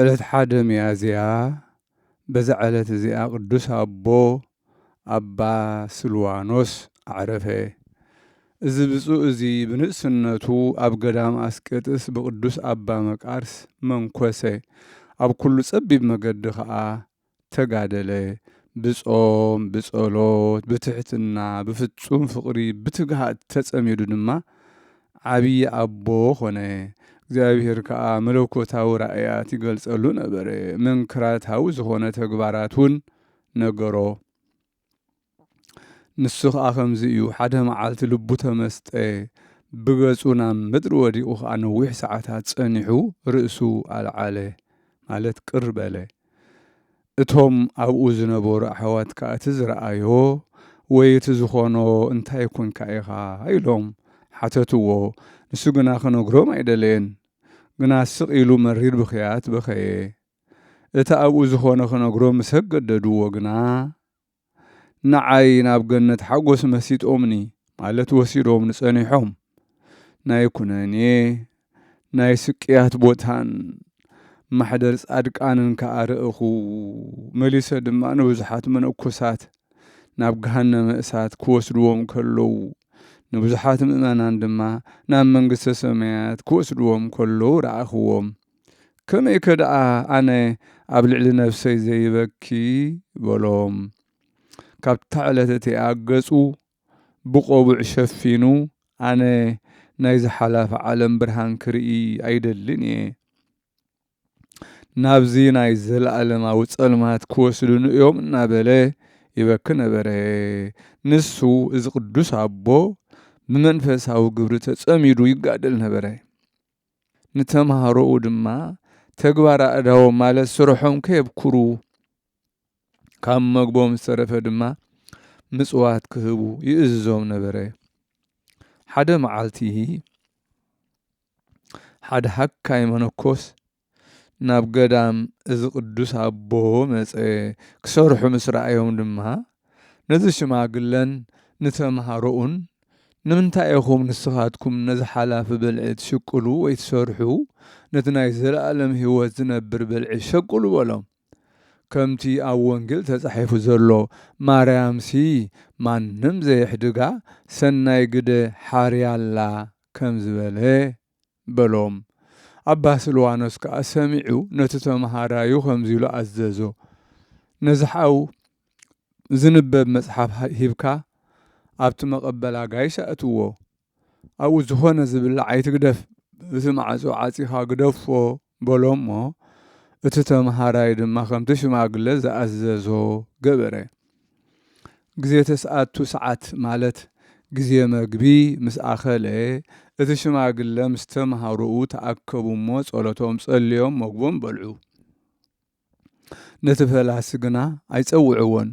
ዕለት ሓደ ሚያዝያ በዛ ዕለት እዚኣ ቅዱስ ኣቦ ኣባ ስልዋኖስ ኣዕረፈ። እዚ ብፁዕ እዚ ብንእስነቱ ኣብ ገዳም ኣስቄጥስ ብቅዱስ ኣባ መቃርስ መንኰሰ፣ ኣብ ኩሉ ጸቢብ መገዲ ኸኣ ተጋደለ ብጾም፣ ብጸሎት፣ ብትሕትና፣ ብፍጹም ፍቕሪ፣ ብትግሃት ተጸሚዱ ድማ ዓብዪ ኣቦ ኾነ። እግዚኣብሔር ከኣ መለኮታዊ ራእያት ይገልጸሉ ነበረ፣ መንክራታዊ ዝኾነ ተግባራትውን ነገሮ። ንሱ ኸኣ ከምዚ እዩ ሓደ መዓልቲ ልቡ ተመስጠ ብገጹ ናብ ምድሪ ወዲቑ ኸኣ ነዊሕ ሰዓታት ጸኒሑ ርእሱ ኣልዓለ ማለት ቅር በለ እቶም ኣብኡ ዝነበሩ ኣሕዋት ከዓ እቲ ዝረኣዮ ወይ እቲ ዝኾኖ እንታይ ኮንካ ኢኻ ኢሎም ሓተትዎ ንሱ ግና ክነግሮም ኣይደለየን ግና ስቕ ኢሉ መሪር ብኽያት በኸየ እቲ ኣብኡ ዝኾነ ክነግሮ ምስ ኣገደድዎ ግና ንዓይ ናብ ገነት ሓጎስ መሲጦምኒ ማለት ወሲዶምኒ ጸኒሖም ናይ ኩነኔ ናይ ስቅያት ቦታን ማሕደር ጻድቃንን ከኣ ርእኹ። መሊሰ ድማ ንብዙሓት መነኮሳት ናብ ገሃነመ እሳት ክወስድዎም ከለዉ ንብዙሓት ምእመናን ድማ ናብ መንግስተ ሰማያት ክወስድዎም ከለዉ ረኣኽዎም። ከመይከ ደኣ ኣነ ኣብ ልዕሊ ነፍሰይ ዘይበኪ? በሎም። ካብታ ዕለት እቲኣ ገጹ ብቆቡዕ ሸፊኑ ኣነ ናይዚ ሓላፊ ዓለም ብርሃን ክርኢ ኣይደልን እየ። ናብዚ ናይ ዘለኣለማዊ ጸልማት ክወስዱኒ እዮም እናበለ ይበኪ ነበረ። ንሱ እዚ ቅዱስ ኣቦ ብመንፈሳዊ ግብሪ ተጸሚዱ ይጋደል ነበረ። ንተምሃሮኡ ድማ ተግባር ኣእዳዎም ማለት ስርሖም ከየብኩሩ ካብ መግቦም ዝተረፈ ድማ ምጽዋት ክህቡ ይእዝዞም ነበረ። ሓደ መዓልቲ ሓደ ሃካይ መነኮስ ናብ ገዳም እዚ ቅዱስ ኣቦ መጸ። ክሰርሑ ምስ ረኣዮም ድማ ነዚ ሽማግለን ንተምሃሮኡን፣ ንምንታይ ኢኹም ንስኻትኩም ነዚ ሓላፊ ብልዒ ትሽቅሉ ወይ ትሰርሑ፣ ነቲ ናይ ዘለኣለም ህይወት ዚነብር ብልዒ ሸቅሉ በሎም። ከምቲ ኣብ ወንጌል ተጻሒፉ ዘሎ፣ ማርያምሲ ማንም ዘየሕድጋ ሰናይ ግደ ሓርያ ኣላ ከም ዝበለ፣ በሎም። ኣባ ስልዋኖስ ከኣ ሰሚዑ ነቲ ተመሃራዩ ከምዚ ኢሉ ኣዘዞ፣ ነዚ ሓው ዝንበብ መጽሓፍ ሂብካ ኣብቲ መቐበል ኣጋይሽ ኣእትዎ። ኣብኡ ዝኾነ ዝብላዕ ኣይትግደፍ፣ እቲ ማዕጾ ዓጺኻ ግደፎ በሎ እሞ፣ እቲ ተመሃራይ ድማ ከምቲ ሽማግለ ዝኣዘዞ ገበረ። ግዜ ተስዓቱ ሰዓት ማለት ግዜ መግቢ ምስ ኣኸለ፣ እቲ ሽማግለ ምስ ተመሃሮኡ ተኣከቡ እሞ ጸሎቶም ጸልዮም መግቦም በልዑ። ነቲ ፈላሲ ግና ኣይጸውዕዎን።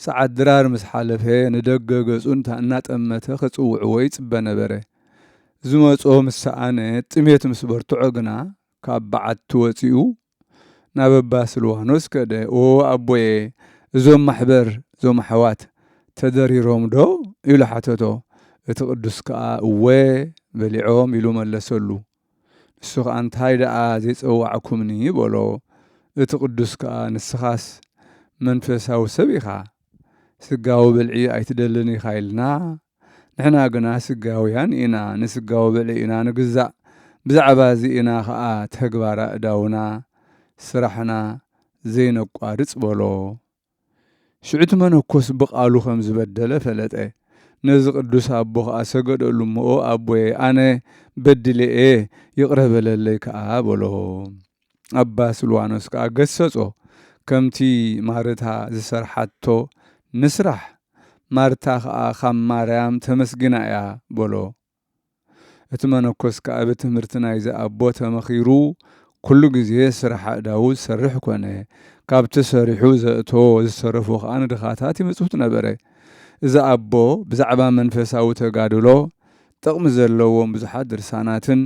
ሰዓት ድራር ምስ ሓለፈ ንደገ ገጹ እናጠመተ ክጽውዕዎ ይጽበ ነበረ። ዝመጾ ምስ ሰኣነ ጥሜት ምስ በርትዖ ግና ካብ በዓቲ ወጺኡ ናብ እባ ስልዋኖስ ከደ። ኦ ኣቦየ እዞም ማሕበር እዞም ኣሕዋት ተደሪሮምዶ? ኢሉ ሓተቶ። እቲ ቅዱስ ከኣ እወ በሊዖም ኢሉ መለሰሉ። ንሱ ኸኣ እንታይ ደኣ ዜጸዋዕኩምኒ? በሎ። እቲ ቕዱስ ከኣ ንስኻስ መንፈሳዊ ሰብ ኢኻ፣ ስጋዊ ብልዒ ኣይትደልን ኢኻ ኢልና፣ ንሕና ግና ስጋውያን ኢና፣ ንስጋዊ ብልዒ ኢና ንግዛእ፣ ብዛዕባ እዚ ኢና ኸኣ ተግባር ኣእዳውና፣ ስራሕና፣ ዘይነቋርጽ በሎ። ሽዑ እቲ መነኮስ ብቓሉ ከም ዝበደለ ፈለጠ። ነዚ ቅዱስ ኣቦ ኸኣ ሰገደሉ እሞ ኣቦየ ኣነ በዲለ እየ ይቕረ በለለይ ከኣ በሎ። ኣባ ስልዋኖስ ከኣ ገሰጾ ከምቲ ማርታ ዝሰርሓቶ ንስራሕ ማርታ ኸኣ ካብ ማርያም ተመስግና እያ በሎ። እቲ መነኮስ ከኣ ብትምህርቲ ናይዚ ኣቦ ተመኺሩ ኩሉ ግዜ ስራሕ ኣእዳዉ ዝሰርሕ ኮነ። ካብቲ ሰሪሑ ዘእቶ ዝተረፉ ከኣ ንድኻታት ይምጽውት ነበረ። እዚ ኣቦ ብዛዕባ መንፈሳዊ ተጋድሎ ጥቕሚ ዘለዎም ብዙሓት ድርሳናትን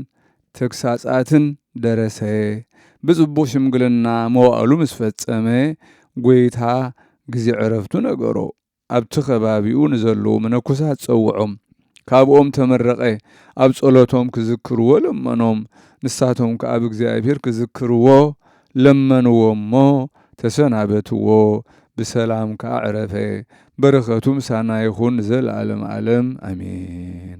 ተግሳጻትን ደረሰ። ብጽቡቕ ሽምግልና መዋእሉ ምስ ፈጸመ ጐይታ ግዜ ዕረፍቱ ነገሮ። ኣብቲ ከባቢኡ ንዘለዉ መነኮሳት ጸውዖም፣ ካብኦም ተመረቐ፣ ኣብ ጸሎቶም ክዝክርዎ ለመኖም፣ ንሳቶም ከኣ ብእግዚኣብሔር ክዝክርዎ ለመንዎ እሞ ተሰናበትዎ፣ ብሰላም ከኣ ዕረፈ፣ በረከቱ ምሳና ይኹን ንዘለዓለመ ዓለም ኣሜን።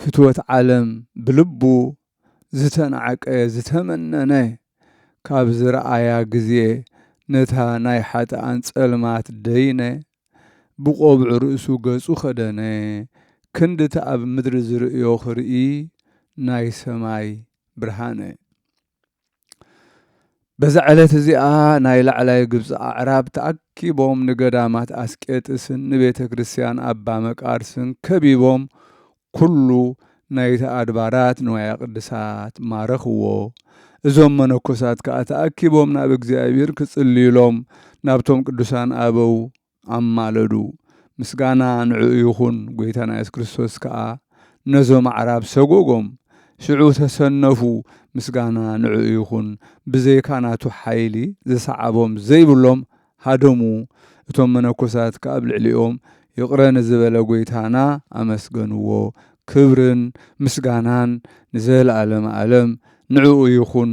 ፍትወት ዓለም ብልቡ ዝተናዕቀ ዝተመነነ ካብ ዝረኣያ ግዜ ነታ ናይ ሓጥኣን ጸልማት ደይነ ብቆብዕ ርእሱ ገጹ ከደነ ክንድቲ ኣብ ምድሪ ዝርእዮ ክርኢ ናይ ሰማይ ብርሃነ በዛ ዕለት እዚኣ ናይ ላዕላይ ግብፂ ኣዕራብ ተኣኪቦም ንገዳማት ኣስቄጥስን ንቤተ ክርስቲያን ኣባ መቃርስን ከቢቦም ኩሉ ናይቲ ኣድባራት ንዋያ ቅድሳት ማረኽዎ። እዞም መነኮሳት ከዓ ተኣኪቦም ናብ እግዚኣብሔር ክጽልዩሎም ናብቶም ቅዱሳን ኣበው ኣማለዱ ምስጋና ንዕኡ ይኹን ጎይታና የሱስ ክርስቶስ ከኣ ነዞም ኣዕራብ ሰጎጎም ሽዑ ተሰነፉ ምስጋና ንዕኡ ይኹን ብዘይካ ናቱ ሓይሊ ዝሰዓቦም ዘይብሎም ሃደሙ እቶም መነኮሳት ከኣብ ልዕሊኦም ይቕረ ንዝበለ ጎይታና ኣመስገንዎ ክብርን ምስጋናን ንዘለኣለመ ኣለም ንዕኡ ይኹን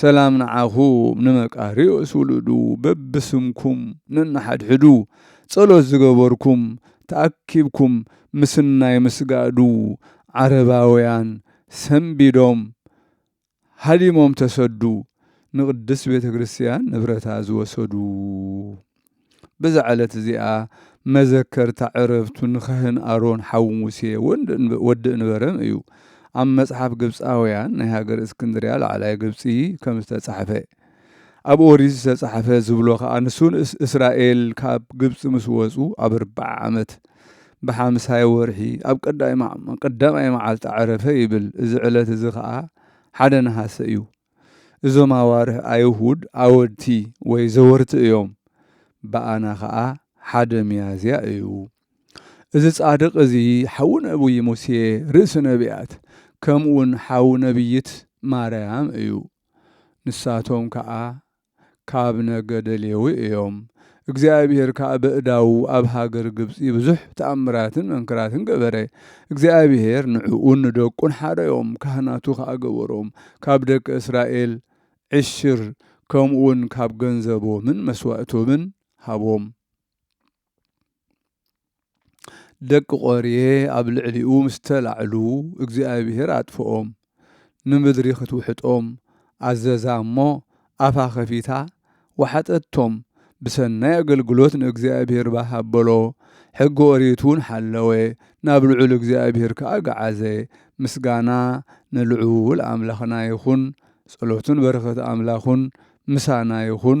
ሰላም ንዓኹም ንመቃርዮስ ውሉዱ በብስምኩም ነንሓድሕዱ ጸሎት ዝገበርኩም ተኣኪብኩም ምስናይ ምስጋዱ ዓረባውያን ሰንቢዶም ሃዲሞም ተሰዱ ንቅድስት ቤተክርስትያን ንብረታ ዝወሰዱ። በዛ ዕለት እዚኣ መዘከርታ ዕረፍቱ ንካህን ኣሮን ሓው ሙሴ ወዲ እንበረም እዩ። ኣብ መጽሓፍ ግብፃውያን ናይ ሃገር እስክንድርያ ላዕላይ ግብፂ ከም ዝተጻሕፈ ኣብ ኦሪት ዝተጻሕፈ ዝብሎ ከዓ ንሱ እስራኤል ካብ ግብፂ ምስ ወፁ ኣብ ኣርባዓ ዓመት ብሓምሳይ ወርሒ ኣብ ቀዳማይ መዓልቲ ዕረፈ ይብል። እዚ ዕለት እዚ ከዓ ሓደ ነሃሰ እዩ። እዞም ኣዋርህ ኣይሁድ ኣወድቲ ወይ ዘወርቲ እዮም። ብኣና ኸኣ ሓደ ሚያዝያ እዩ። እዚ ጻድቕ እዚ ሓዉ ነብዪ ሙሴ ርእሲ ነብያት ከምኡውን ሓዉ ነብይት ማርያም እዩ። ንሳቶም ከኣ ካብ ነገደ ሌዊ እዮም። እግዚኣብሄር ከኣ በእዳዉ ኣብ ሃገር ግብጺ ብዙሕ ተኣምራትን መንክራትን ገበረ። እግዚኣብሄር ንዕኡን ንደቁን ሓረዮም፣ ካህናቱ ከኣ ገበሮም። ካብ ደቂ እስራኤል ዕሽር ከምኡውን ካብ ገንዘቦምን መስዋእቶምን ሃቦም። ደቂ ቆሬ ኣብ ልዕሊኡ ምስ ተላዕሉ እግዚኣብሄር ኣጥፍኦም ንምድሪ ክትውሕጦም ኣዘዛ እሞ ኣፋ ከፊታ ወሓጠቶም ብሰናይ ኣገልግሎት ንእግዚኣብሄር ባህ ኣበሎ ሕጊ ኦሪት እውን ሓለወ ናብ ልዑል እግዚኣብሄር ከዓ ገዓዘ ምስጋና ንልዑል ኣምላኽና ይኹን ጸሎቱን በረኸት ኣምላኹን ምሳና ይኹን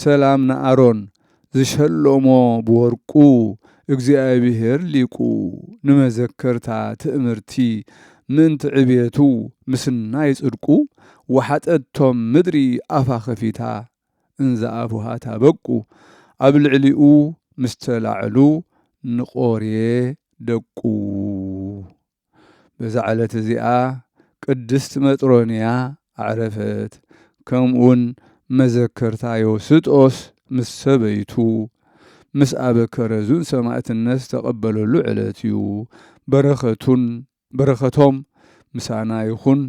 ሰላም ንኣሮን ዝሸሎሞ ብወርቁ እግዚኣብሔር ሊቁ ንመዘከርታ ትእምርቲ ምእንቲ ዕብየቱ ምስናይ ጽድቁ ወሓጠቶም ምድሪ ኣፋ ከፊታ እንዘ ኣፉሃ ታበቁ ኣብ ልዕሊኡ ምስ ተላዕሉ ንቆርየ ደቁ በዛ ዕለት እዚኣ ቅድስት መጥሮንያ ኣዕረፈት፣ ከምኡውን መዘከርታ ዮስጦስ ምስ ሰበይቱ ምስ ኣበ ከረዙን ሰማእትነት ዝተቐበለሉ ዕለት እዩ፣ በረከቱን በረከቶም ምሳና ይኹን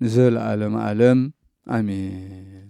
ንዘለዓለመ ዓለም ኣሜን።